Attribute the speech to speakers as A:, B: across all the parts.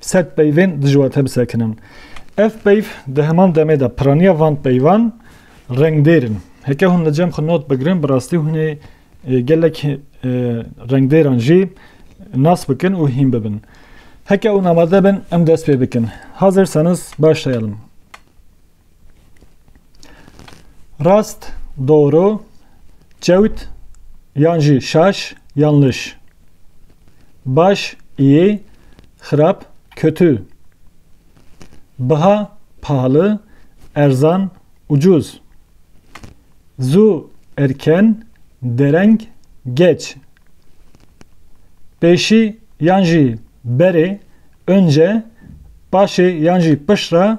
A: Sed peyvên dijwar tê bisekinin. Ev peyv di heman demê de piraniya van peyvan rengdêr in. Heke hûn li cem xwe not bigirin bi rastî hûn ê gelek rengdêran jî nas bikin û hîn bibin. Heke hûn amade bin em dest pê bikin. Hazir Sanus baş teyelim. Rast, doğru, çewt, yan jî şaş, yanlış. Baş, iyi, xirab, kötü. Baha, pahalı, erzan, ucuz. Zu, erken, dereng, geç. Pêşî yan jî berê, önce, paşê yan jî piştre,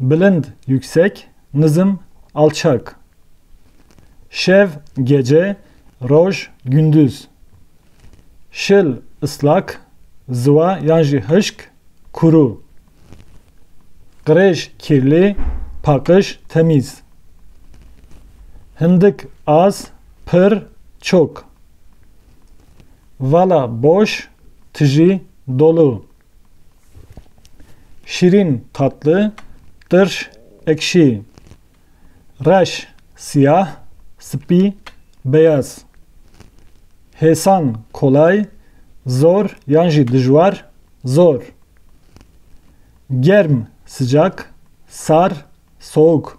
A: Bilind, yüksek, nizm, alçak. Şev, gece, roj, gündüz. Şil, ıslak, zıwa yan jî hışk, kuru. Qirêj, kirli, paqij, temîz. Hindik, az, pir, çok. Vala, boş, tijî, dolu. Şîrîn, tatlı, tırş, ekşi. Reş, siyah, spî, beyaz. Hêsan, kolay, zor yan jî dijwar, zor. Germ, sıcak, sar, soğuk.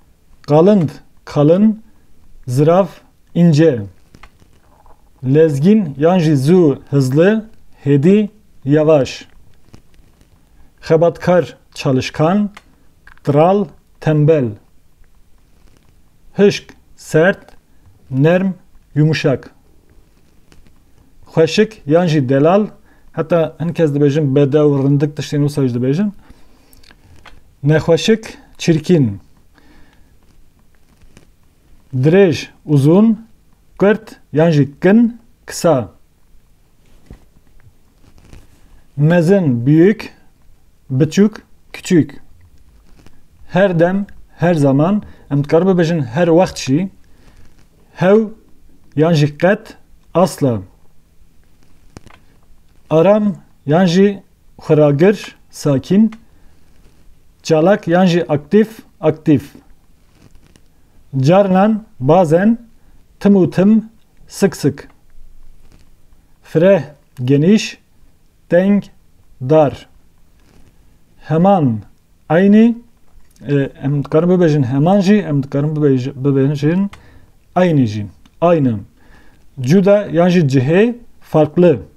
A: Qalind, kalın, ziraf, ince. Lezgîn yan jî zû, hızlı, hêdî, yavaş. Xebatkar, çalışkan, tral, tembel. Hişk, sert, nerm, yumuşak. Xweşik yan jî delal, heta hin kes dibêjin bedew, rindik tiştên wisa jî dibêjin. Nexweşik çirkîn, dirêj, uzun, kurt yan jî kin, kısa. Mezin, büyük, biçûk, küçük. Her dem, her zaman, em dikarin bibêjin her wext jî, hew yan jî qet, asla. Aram yan jî Xuragir, sakîn, çalak yan jî aktîf, aktîf. Carinan, bazen, tim û tim, sik sik. Fireh, genîş, teng, dar. Heman, eynî, em dikarin bibêjin heman jî, em dikarin bibêjin eynî jî. Ayna. Cuda yan jî cihê, farklı.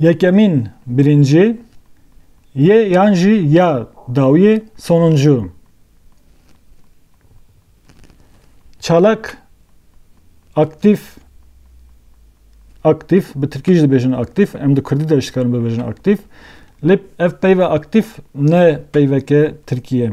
A: Yekemîn birincî yê yan jî ya dawiyê sonuncu. Çalak aktif aktif bi tirkî jî dibêjin aktif em di kurdî de jî dikarin bibêjin aktif lê ev peyva aktif ne peyveke tirkî ye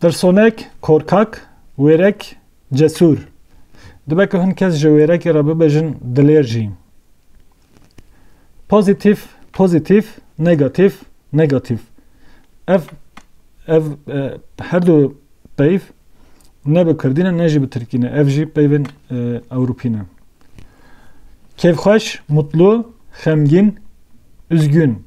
A: Pirsonek korkak, wêrek cesûr. Dibe ku hin kes ji wêrekê re bibêjin dilêr jî. Pozîtîf, pozîtîf, negatîf, negatîf. Ev ev her du peyv ne bi Kurdî ne ne jî bi Tirkî ne. Ev jî peyvên Ewropî ne. Kêfxweş, mutlu, xemgîn, üzgün.